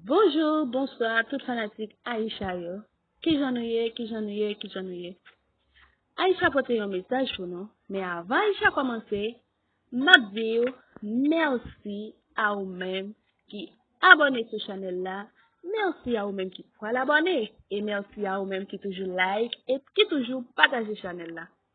Bonjour, bonsoir tout fanatik Aïcha yo. Kijan nou ye, kijan nou ye, kijan nou ye. Aïcha pote yon mesaj pou nou, men avan Aïcha komanse, map di yo merci a ou menm ki abone sou chanel la, merci a ou menm ki pral abone, e merci a ou menm ki toujou like et ki toujou pataje chanel la.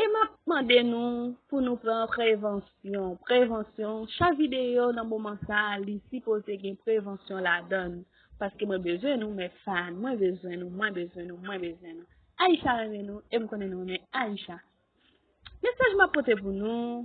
E map mande nou pou nou pran prevansyon, prevansyon, chak videyo nan moman sa li sipoze gen prevansyon ladann. Paske mwen bezwen nou mèt fan, mwen bezwen nou, mwen bezwen nou, mwen bezwen nou. Aisha renmen nou, e m konnen nou renmen Aisha. Mesaj map pote pou nou.